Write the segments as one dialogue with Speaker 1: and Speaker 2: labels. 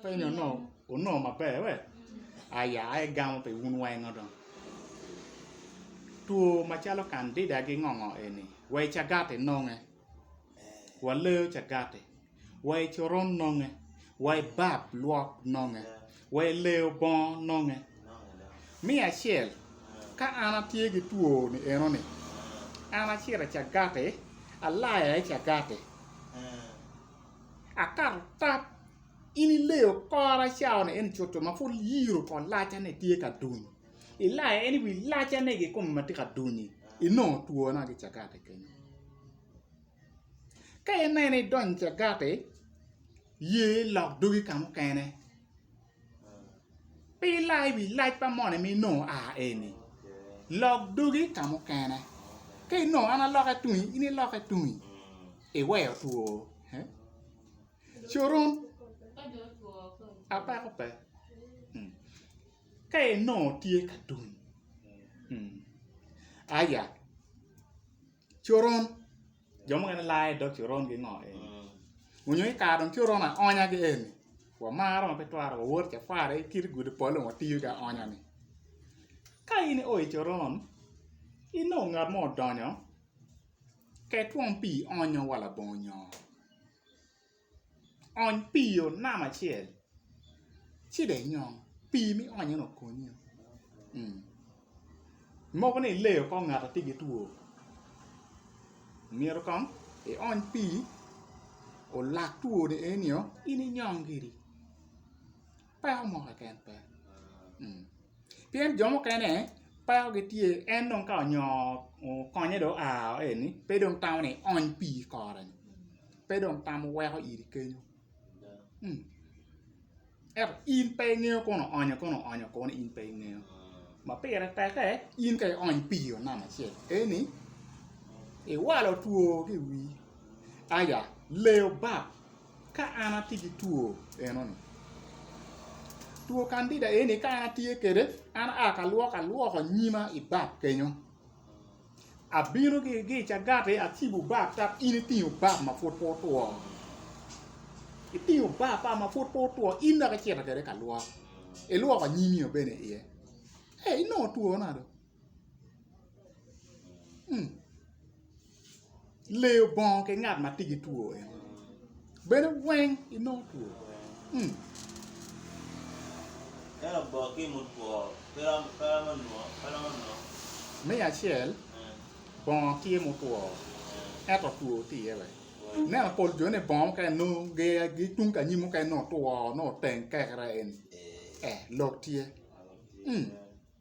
Speaker 1: Penyo no onongo maber we? Aya aye gamo pi wun wengo dong. Two macalo kandida gingongo eni wa i cagati nonge, wa leyo cagati, wa i coron nonge, wa i bab lwok nonge, wa i leyo bongo nonge. Me acel, ka an atye ki two ni eno ni, an acito i cagati, alaya i cagati. Akato tap in ileyo kora cawa ni eni cuto ma pud iyiro ko lacane tye ka duny, ilaya en i wi lacane kikome ma tye ka duny-nyi, inongo twona ki cagati kenyo. Ka ineno idonyo cagati, ye ilok dogi ka mukene, Pi laa i wi lac pa moni ma inongo aa eni, lok dogi ka mukene. Ka inongo an alokke tungi, in ilokke tungi, iweyo two. Coron apeko pe. Ka inongo tye ka tuny, aya. coron jo mukene laa i dog coron ki ngo eni onyo i kare dong coron aonya gi eni wamaro ma pe twero wawot ca kwara i kit gudi pol dong watiyo ki aonya ni ka in i o i coron inongo ngat mo odonyo ket twon pii onyo wa labongo nyo Ony pii o nam acel ci dong inyom pii ma ionyo ni okonyi o mogo ni ileyo kong ngat atye ki two myero kong iony pii olak two ni eni o in inyom giri peko mo keken pe pien jo mukene peko gi tye en dong ka onyo okonye dong oa o eni pe dong tamo ni iony pii ikore ni. pe dong tam weko iri kenyo ento in pe ingeyo kono onyo kono onyo kono in pe ingeyo ma pire teke in ka iony pii onam acel eni iwalo two ki iwi aya leyo bap ka an atye ki two enoni two kandida eni ka an atye kwede an aa ka lwoko alwoko nyima ibap kenyo Abino gi cagati acibo bap dok in itingo bap ma pud pe otwo. Itingo bap pa ma pud pe otwo in dok icito kwede ka lwok, ilwoko anyimi bene iye. Ee, inongo twona do. Leyo bongo ki ngat ma tye ki two eno bene weng inongo two.
Speaker 2: Me
Speaker 1: acel bongo tye mutwo ento two tye iye bene ineno pol jo ni bongo mukene nongo gitung ka anyim mukene nongo two nongo teng kekere eni lok tye.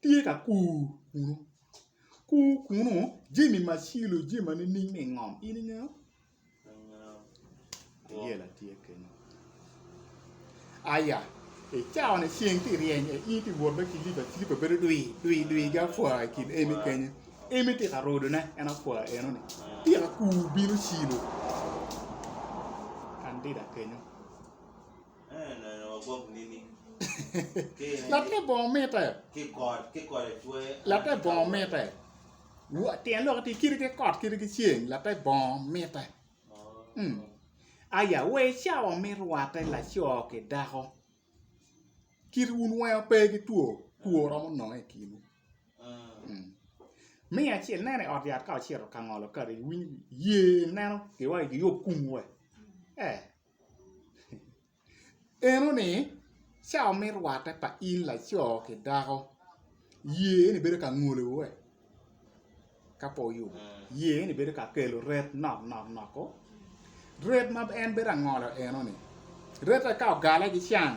Speaker 1: tye ka kur kunu, kur kunu jami ma cilo jami ma nining ma ingom in ingeyo? Ayela tye kenyo. Aya, i cawa-ni ceng tye ka ryeny aye in itye ka wot ki lip acilipa bedo dwi dwi dwi ki apwa i kin emi kenyo, emi tye ka rodone en apwa enoni tye ka kur bino cilo kandida kenyo. Latte bongo mitte.
Speaker 2: Latte bongo mitte.
Speaker 1: Tyen lok ti kiti ki kot kiti ki ceng latte bongo mitte. Hmm. Aya wa i cawa me rwatte laco ki dako kit wun weng pe ki two two romo nongo i kinwu. Hmm. Me acel nene i ot yat ka ocito ka ngolo kadi iwiny ye neno giwa giyub kum we. Eh. Eno ni, ca me rwatte pa in laco ki dako, ye ni bedo ka ngolo we? Ka po oyubo, ye ni bedo ka kelo ret nok nok nok o? Ret ma en bedo angolo eno ni, rette ka ogale ki can,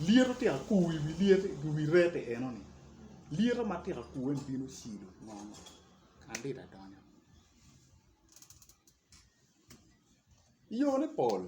Speaker 1: lyeto tika kuwi i wi lyet i wi rette eno ni, lyeto ma tika kuwe ni bino cido ngo ngo? Kadi adonyo. yone pol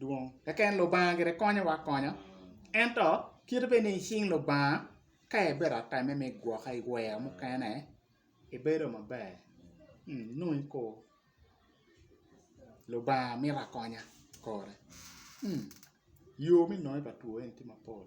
Speaker 1: dwong keken lubanga gire konyowa akonya ento kite bed ni icing lubanga ka ibedo ateme me gwoke i wer mukene ibedo maber nongo iko lubanga mito akonya kore yo me nonge pa two eni tye mapol